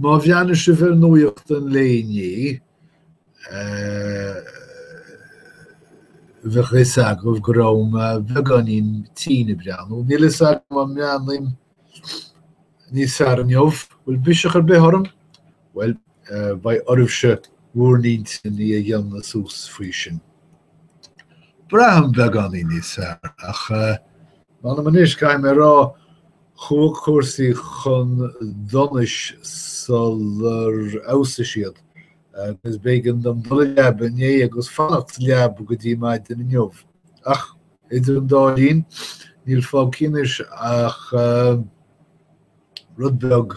Má bhreathnaigh sibh ar nuaíochtan an lae inné, bheadh fhios agaibh go raibh mé beagáinín tinn ag breathnú. Níl fhios agam an mbreathnaím níos fearr inniu. Bhfuil biseach ar bith orm? Bhuel, beidh oraibhse bhúr n-intinn a dhéanamh suas faoi sin. Braithim beagáinín níos fearr, ach. M'anam anois, caithfidh mé a rá, chuaigh cúrsaí chun donais sular fheabhsaigh siad, agus b'éigean dom dul a leaba inné agus fanacht sa leaba go dtí maidin inniu. Ach idir an dá linn, níl fágtha anois ach rud beag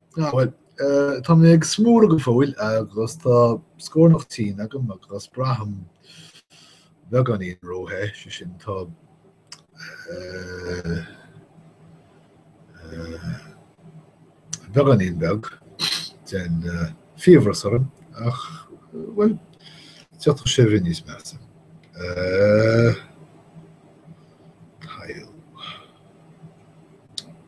Bhuel, tá mé ag smúradh go fóill agus tá scornach tinn agam agus braithim beagáinín róthe, sé sin tá beagáinín beag den fiabhras orm ach, bhuel, d'fhéadfadh sé a bheith níos measa.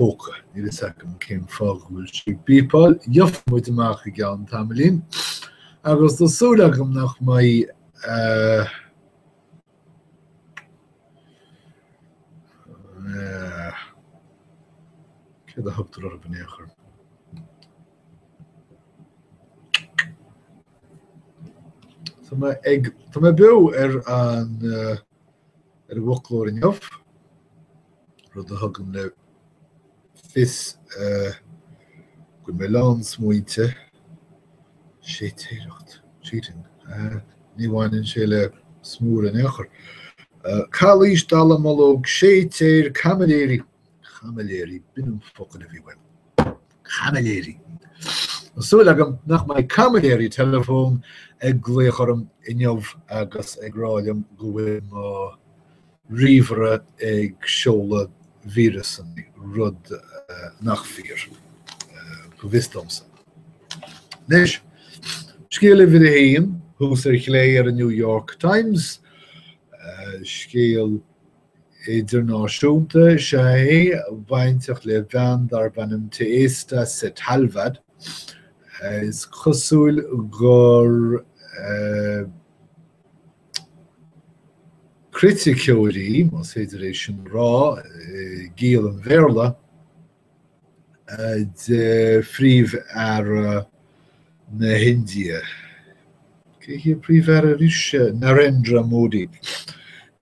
Níl fhios agam cén fáth go bhfuil sí ag bípeáil, gheobhaidh muid amach i gceann tamaillín. Agus tá súil agam nach mbeidh. Céard a thugtar orthu in aon chor? Tá mé ag, tá mé beo ar an, ar an bhfoclóir inniu. rud a thugann le fios go mbeidh a lán smaointe, séitéireacht, cheating, ní bhaineann sé le smúr in aon chor. Calaois, dallamullóg, séitéir, caimiléirí, caimiléirí, b'in an focal a bhí uaim, caimiléirí! Tá súil agam nach mbeidh caimiléirí teileafón ag glaoch orm inniu agus ag rá liom go bhfuil mo. ríomhaire ag seoladh víreasanna, rud nach fíor, go bhfios domsa. Anois, scéal uimhir a haon, thuas ar chlé ar an New York Times, scéal idirnáisiúnta is ea é, bainteach le bean darb ainm Teesta Setalvad. Is cosúil gur. criticeoir í, más féidir é sin a rá i gciall an Bhéarla, de Phríomh-Aire na hIndia. Cé hé an Príomh-Aire arís? Narendra Modi.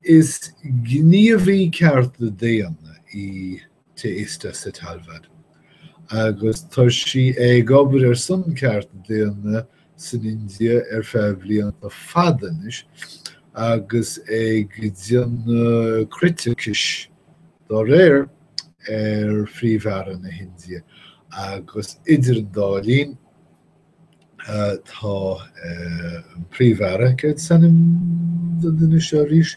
Is gníomhaí cearta daonna í Teesta Setalvad, agus tá sí ag obair ar son ceart daonna san India ar feadh blianta fada anois agus ag déanamh criticis dá réir ar Phríomh-Aire na hIndia, agus idir an dá linn tá an Príomh-Aire, céard is ainm don duine seo arís?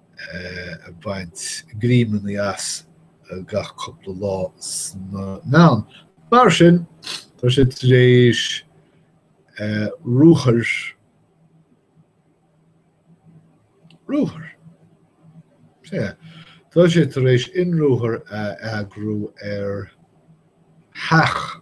ag baint greimeanna as gach cúpla lá sna meáin. Mar sin, tá sé tar éis ruathair, ruathar? Sea. Tá sé tar éis ionruathar a eagrú ar theach.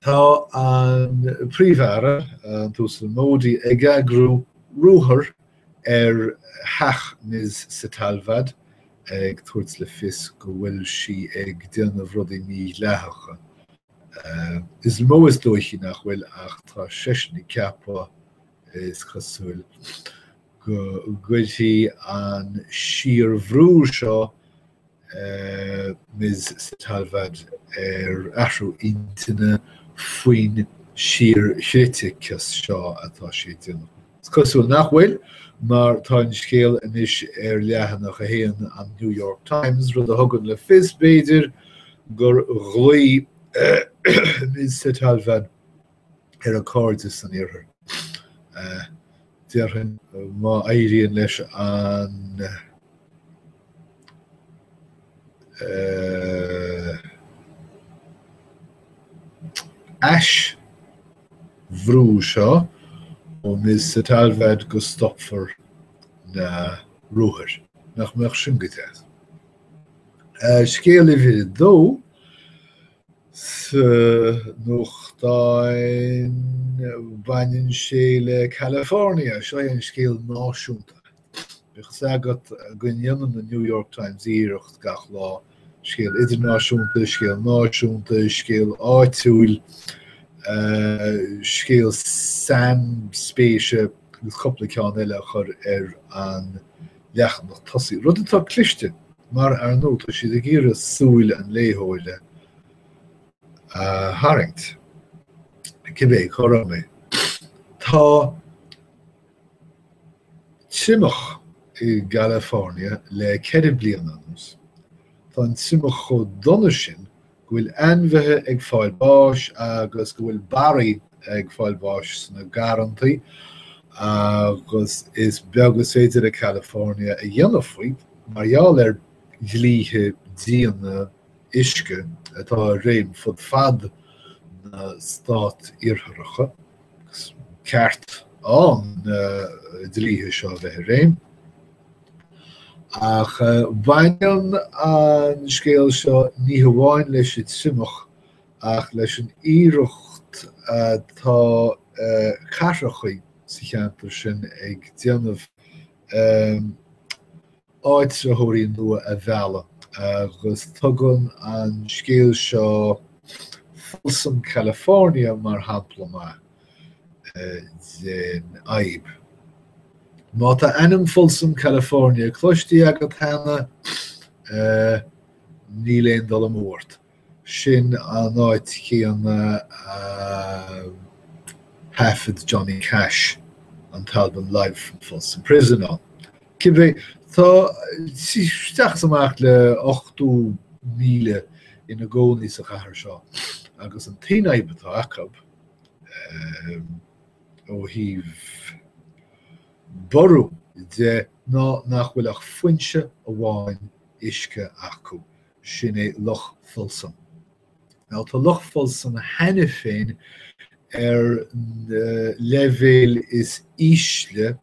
Tá an Príomh-Aire, an tUasal Modi, ag eagrú ruathar ar theach Ms Setalvad, ag tabhairt le fios go bhfuil sí ag déanamh rudaí mídhleathacha. Is mó is dóichí nach bhfuil, ach tá seisean ag ceapadh, is cosúil, go gcuirfidh an síorbhrú seo Ms Setalvad ar athrú intinne faoin síorchriticeas seo atá sí ag déanamh. Is cosúil nach bhfuil, mar tá an scéal anois ar leathanach a haon an New York Times, rud a thugann le fios, b'fhéidir, gur ghlaoigh Ms Setalvad ar a cairde san Iarthar. Déarfainn má éiríonn leis an aisbhrú seo ó Ms Setalvad go stopfar na ruathair. Nach mbeadh sin go deas. Scéal uimhir a dó, Sa nuachtán baineann sé le California, seo é an scéal náisiúnta. Bíodh fhios agat go ndéanann an New York Times iarracht gach lá scéal idirnáisiúnta, scéal náisiúnta, scéal áitiúil, scéal sainspéise agus cúpla ceann eile a chur ar an leathanach tosaigh, rud atá cliste mar, ar ndóigh, tá siad ag iarraidh súile an léitheora a tharraingt, cibé cá raibh mé. Tá triomach i gCalifornia le ceithre bliana anuas. Tá an triomach chomh dona sin go bhfuil ainmhithe ag fáil bháis agus go bhfuil barraí ag fáil bháis sna garrantaí agus is beag is féidir le California a dhéanamh faoi mar gheall ar dhlíthe diana uisce atá i réim fud fad na Stát Iartharacha. Is ceart ann na dlíthe seo a bheith i réim. Ach baineann an scéal seo ní hamháin leis an triomach ach leis an iarracht atá cathracha sa cheantar sin ag déanamh áitritheoirí nua a mhealladh agus tugann an scéal seo Folsom California mar shampla maith. den fhadhb. Má tá ainm Folsom California cloistí agat cheana, níl aon dul amú ort, sin an áit chéanna a thaifead Johnny Cash an t-albam Live From Folsom Prison ann. Cibé, tá isteach is amach le 80,000 ina gcónaí sa chathair seo, agus an t-aon fhadhb atá acu, ó thaobh borradh de ná nach bhfuil ach foinse amháin uisce acu, sin é Loch Folsom. Now tá Loch Folsom cheana féin ar an leibhéal is ísle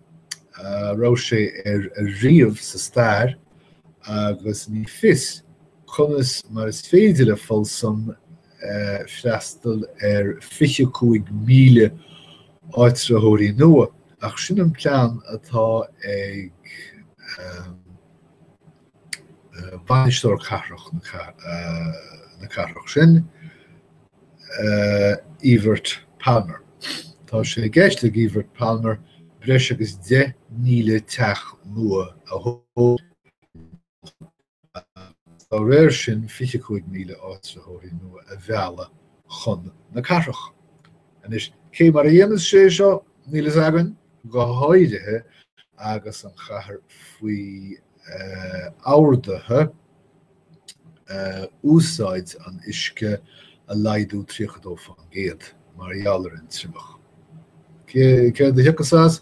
a raibh sé air ariamh sa stair agus ní fios conas mar is féidir le Folsom freastal ar 25,000 áitritheoirí nua, ach sin an plean atá ag Bainisteoir Cathrach na cathrach sin, Evert Palmer. Tá sé i gceist ag Evert Palmer breis agus 10,000 teach nua a thógáil agus dá réir sin 25,000 áitritheoirí nua a mhealladh chun na cathrach. Anois, cé mar a dhéanfas sé seo, níl a fhios againn, go háirithe agus an chathair faoi orduithe úsáid an uisce a laghdú 32% mar gheall ar an triomach. Céard a thiocfas as?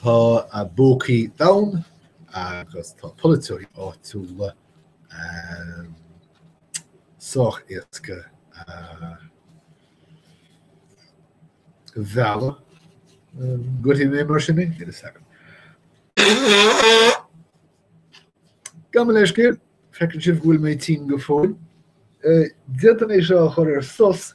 Tá a bpócaí domhain agus tá polaiteoirí áitiúla sách éasca a mhealladh. Goitfidh mé mar sin mé is agam. Gabh mo leithscéal, feiceann sibh go bhfuil mé tinn go fóill. Déanfaidh mé é seo a chur ar sos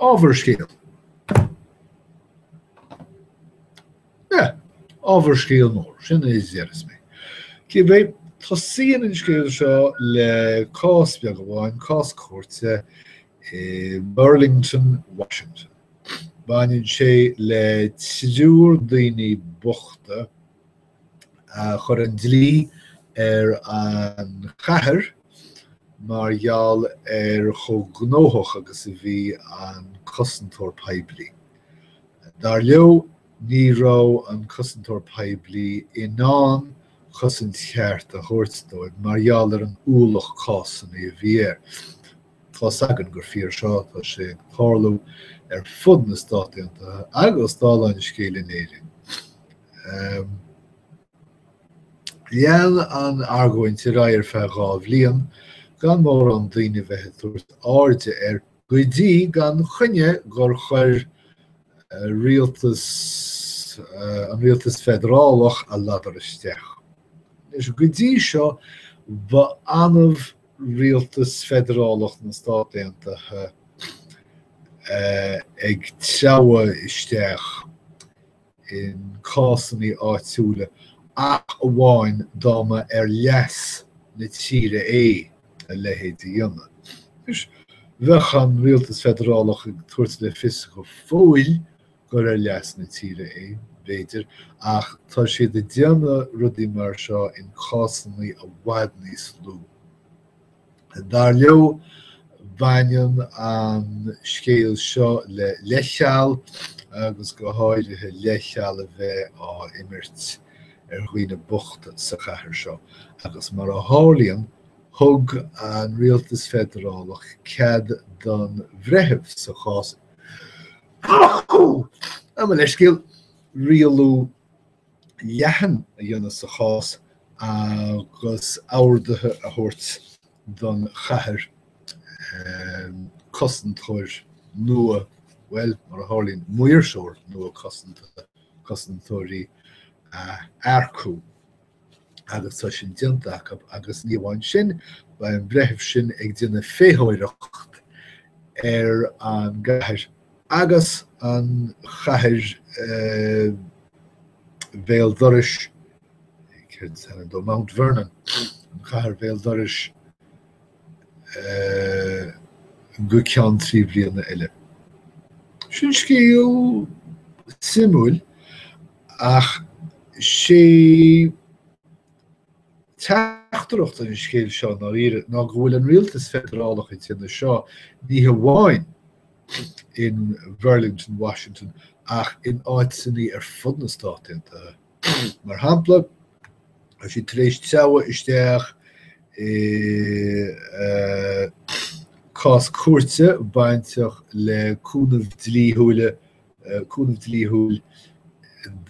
Ábhar scéil? Yeah, ábhar scéil mór, sin a déarfas mé. Cibé, tosaíonn an scéal seo le cás beag amháin, cás cúirte i mBurlington, Washington. Baineann sé le triúr daoine bochta a chuir an dlí ar an chathair mar gheall ar chomh gnóthach agus a bhí an cosantóir poiblí. Dar leo, ní raibh an cosantóir poiblí in ann cosaint cheart a thabhairt dóibh mar gheall ar an ualach cásanna a bhí air. Tá's againn gur fíor seo, tá sé ag tarlú ar fud na Stát Aontaithe agus, dála an scéil, in Éirinn. Lean an argóint ar aghaidh ar feadh dhá bhliain, gan mórán daoine a bheith ag tabhairt airde air, go dtí, gan choinne, gur chuir rialtas, an rialtas feidearálach, a ladar isteach. Anois, go dtí seo, ba annamh Rialtas Feidearálach na Stát Aontaithe ag treabhadh isteach i gcásanna áitiúla ach amháin dá mba ar leas na tíre é a leithéid a dhéanamh. Bheadh an Rialtas Feidearálach ag tabhairt le fios go fóill gur ar leas na tíre é, b'fhéidir, ach tá siad ag déanamh rudaí mar seo i gcásanna i bhfad níos lú. Dar leo, baineann an scéal seo le leithcheal agus go háirithe leithcheal a bheith á imirt ar dhaoine bochta sa chathair seo, agus mar a tharlaíonn, thug an Rialtas Feidearálach cead don bhreitheamh sa chás Gabh mo leithscéal, rialú leathan a dhéanamh sa chás agus orduithe a thabhairt don chathair cosantóir nua, bhuel, mar a tharlaíonn, maoirseoir nua cosanta, cosantóirí, a earcú. agus tá sin déanta acub, agus ní amháin sin, beidh an breitheamh sin ag déanamh féitheoireachta ar an gcathair agus an chathair bhéal dorais, céard is ainm dó, Mount Vernon, an chathair bhéal dorais go ceann trí bliana eile. Sin scéal suimiúil Ach is é teachtaireacht an scéil seo ná iarraidh ná go bhfuil an rialtas feidearálach ag déanamh seo ní hamháin in Burlington, Washington, ach in áiteanna ar fud na Stát Aontaithe. Mar shampla, tá siad tar éis treabhadh isteach i cás cúirte bainteach le cúnamh dlíthiúla cúnamh dlíthiúil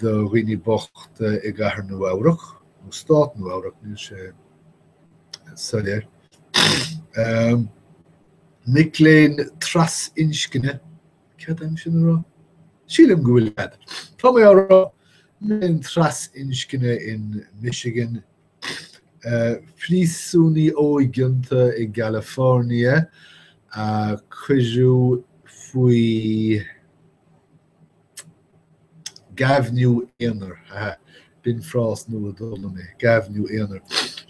do dhaoine bochta i gCathair Nua-Eabhrac, nó Stát Nua-Eabhrac, níl sé soiléir. Mic léinn trasinscne, cead agam é sin a rá? Sílim go bhfuil cead. Tá mé á rá, mic léinn trasinscne in Michigan, Príosúnaí óigeanta i gCalifornia a cuireadh faoi ghéibheann aonair, ha ha, b'in frás nua a d'fhoghlaim mé, gaibhniú aonair,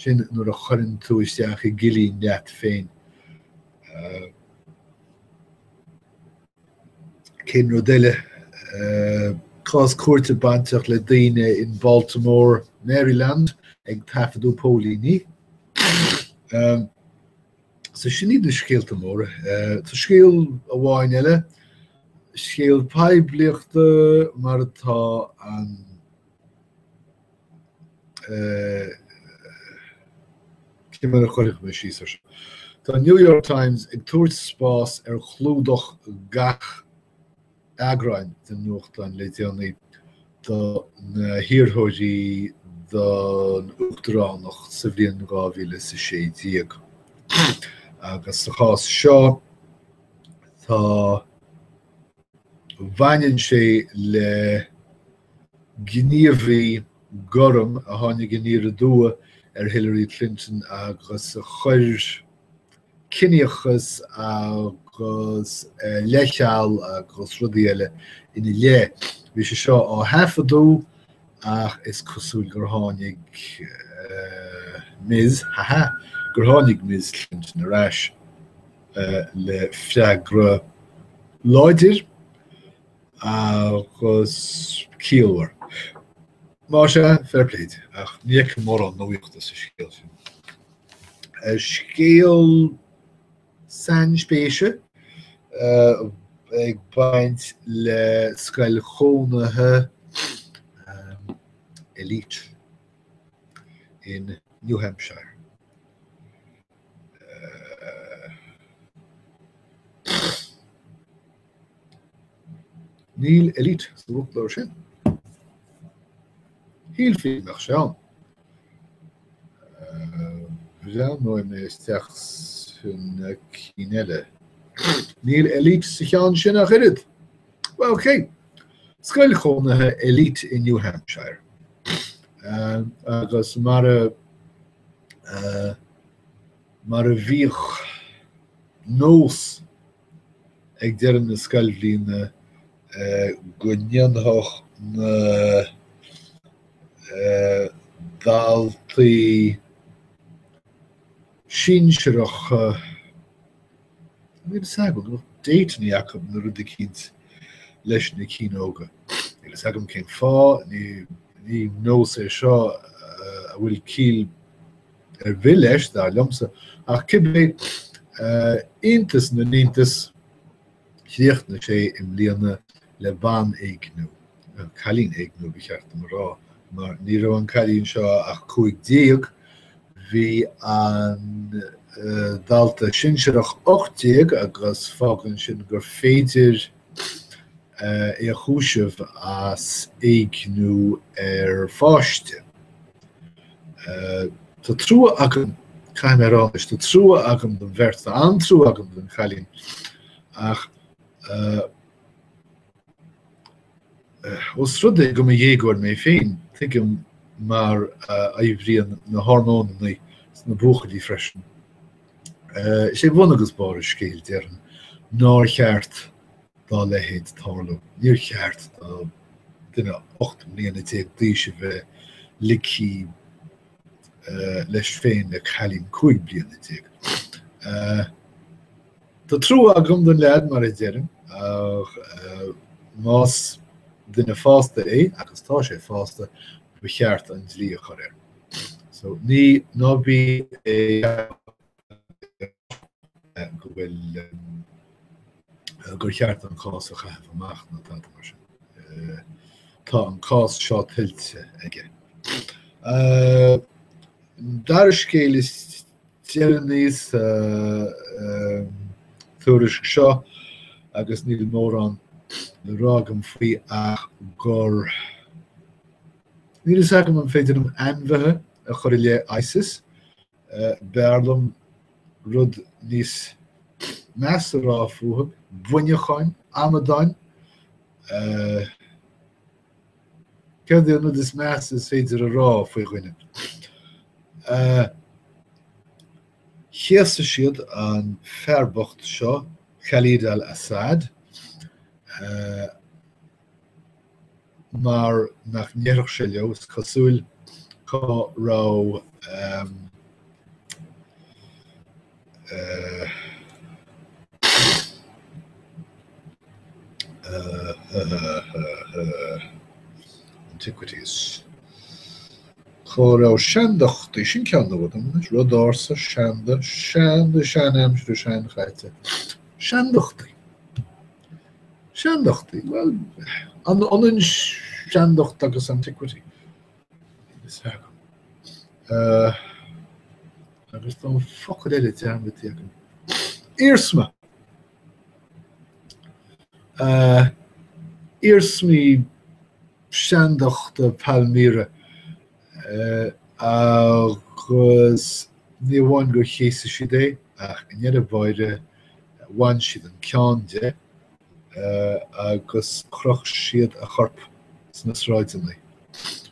sin nuair a chuireann tú isteach i gcillín leat féin, Cén rud eile? Cás cúirte bainteach le daoine in Baltimore, Maryland ag taifeadadh póilíní. So sin iad na scéalta móra. Tá scéal amháin eile, scéal poiblíochta mar atá an Cé mar a chuirfidh mé síos ar seo? Tá an New York Times ag tabhairt spás ar chlúdach gach eagrán den nuachtán le déanaí do na hiarrthóirí don uachtaránacht sa bhliain dhá mhíle is a sé déag. Agus sa chás seo, tá Bhaineann sé le gníomhaí gorm a tháinig aniar aduaidh ar Hillary Clinton agus a chuir ciníochas agus leithcheal agus rudaí eile ina leith. Bhí sé seo á thaifeadadh ach is cosúil gur tháinig Ms, ha ha, gur tháinig Ms Clinton ar ais. le freagra láidir agus ciallmhar. Más ea, fair play di, ach ní fheicim mórán nuachta sa scéal sin. Scéal sainspéise ag baint le scoil chónaithe elite in New Hampshire. Níl elite sa bhfoclóir sin. Shílfinn nach bhfuil sé ann. Breathnóidh mé isteach sna cinn eile. Níl elite sa cheann sin ach oiread. Well, ok. Scoil chónaithe elite in New Hampshire. Agus mar a Mar a bhíodh nós ag deireadh na scoilbhliana go ndéanfadh na daltaí sinsearacha Níl 'fhios agam, nó d'fhéadfainn ní fhaca na rud eicínt leis na cianóga. Níl 'fhios agam cén fáth, ní ní nós é seo a bhfuil ciall ar bith leis, dar liomsa, ach cibé, iontas na n-iontas, chríochnaigh sé i mbliana le banéigniú, nó cailín éigniú ba cheart dom a rá, mar ní raibh an cailín seo ach cúig déag, bhí an dalta sinsearach ocht déag agus fágann sin gur féidir é a chúiseamh as éigniú ar pháiste. Tá trua agam, caithfidh mé a rá anois, tá trua agam don bheirt, tá an-trua agam don chailín ach, Ós rud é go mba dhéagóir mé féin, tuigim mar a oibríonn na hormónanna sna buachaillí freisin. Is é bun agus barr an scéil, déarfainn, nár cheart dá leithéid tarlú. Níor cheart do dhuine ocht mbliana déag d'aois a bheith ligthí leis féin le cailín cúig bliana déag. Tá trua agam don leaid, mar a deirim, ach más duine fásta é, agus tá sé fásta, ba cheart an dlí a chur air. So, ní, ná bí ag go bhfuil gur cheart an cás a chaitheamh amach ná tada mar sin. Tá an cás seo tuillte aige. Dara scéal is Deir níos tuairisc seo, agus níl mórán le rá agam faoi ach gur níl fhios agam an féidir ainmhithe a chur i leith ISIS, b'fhearr liom rud níos measa a rá fúthu, buinneacháin, amadáin, Céard é an rud is measa is féidir a rá faoi dhuine? Chéas siad an fear bocht seo, Khalid al-Assad, mar nach ndéarfadh sé leo, is cosúil, cá raibh. Antiquities. Cá raibh seandachtaí? Sin ceann díobh anois. Rud ársa, seanda, seanda, seanaimsire, seanchaite. Seandachtaí. Seandachtaí. Well, an ionann seandacht agus antiquity? agus tá focail eile dearmadta agam. Iarsma! Iarsmaí seandachta Palmyra agus ní amháin gur chéas siad é ach i ndeireadh báire bhain siad an ceann de. agus chroch siad a chorp sa tsráid.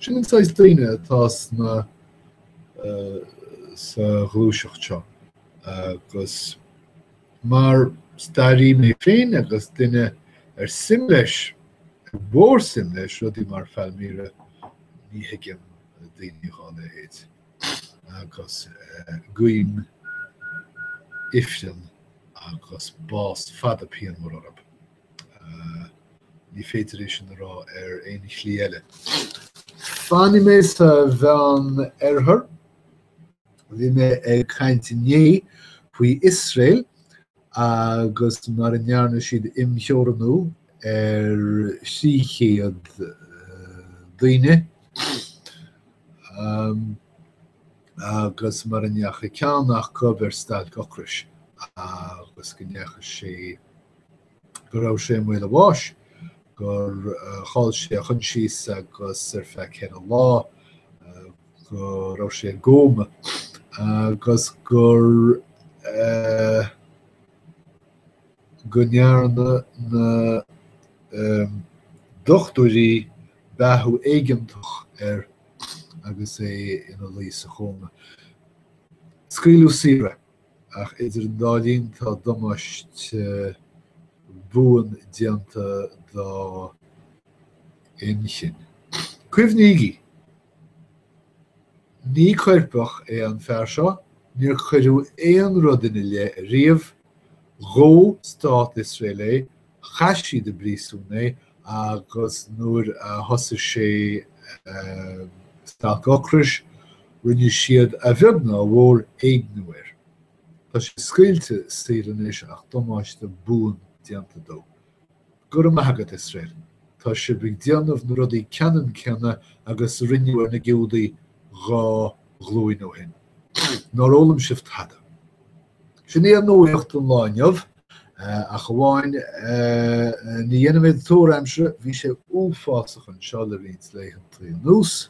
Sin an saghas daoine atá sna sa ghluaiseacht seo agus mar stairí mé féin agus duine ar suim leis ar mhór suim leis rudaí mar Phalmyra ní thuigim daoine dhá leithéid. agus guím ifreann agus bás fada pianmhar orthu. Ní féidir é sin a rá ar aon shlí eile. Fanfaidh mé sa Mheán Oirthear. Bhí mé ag caint inné faoi Iosrael agus mar a ndearna siad imtheorannú ar thrí chéad daoine, agus mar a ndeachaigh ceann acub ar stailc ocrais, agus go ndeachaigh sé, go raibh sé i mbaol a bháis, gur chaill sé a choinsias, agus ar feadh ceithre lá, go raibh sé i gcóma agus gur go ndearna na dochtúirí beathú éigeantach air agus é ina luí sa chóma. Scaoileadh saor é. Ach idir an dá linn tá damáiste buan déanta dá inchinn. Cuimhnígí! Ní coirpeach é an fear seo, níor cuireadh aon rud ina leith riamh, dhóigh Stát Iosrael é Chaith siad i bpríosún é agus nuair a thosaigh sé stailc ocrais, rinne siad a bheag ná a mhór éigniú air. Tá sé scaoilte saor anois ach damáiste buan déanta dó. Go raibh maith agat, Iosrael. Tá sibh ag déanamh na rudaí ceannann céanna agus a rinneadh ar na Giúdaigh dhá ghlúin ó shin. Nár fhoghlaim sibh tada? Sin í an nuaíocht an lá inniu, ach amháin ní dhéanfaimid tuar aimsire, bhí sé uafásach anseo le roinnt laethantaí anuas.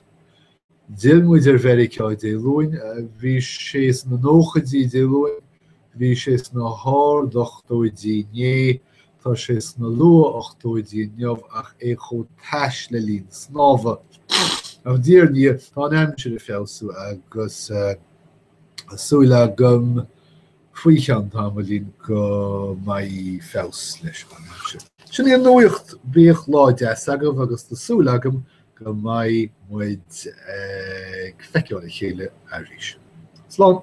D'fhill muid ar Mheiriceá Dé Luain, bhí sé sna nóchaidí Dé Luain, bhí sé sna hard-ochtóidí inné, tá sé sna luath-ochtóidí inniu ach é chomh tais le linn snámha. Ach diaidh ar ndiaidh, tá an aimsir ag feabhsú agus. Tá súil agam faoi cheann tamaillín go mbeidh feabhas leis anseo. Sin í an nuaíocht, bíodh lá deas agaibh agus tá súil agam go mbeidh muid ag feiceáil a chéile arís. Slán!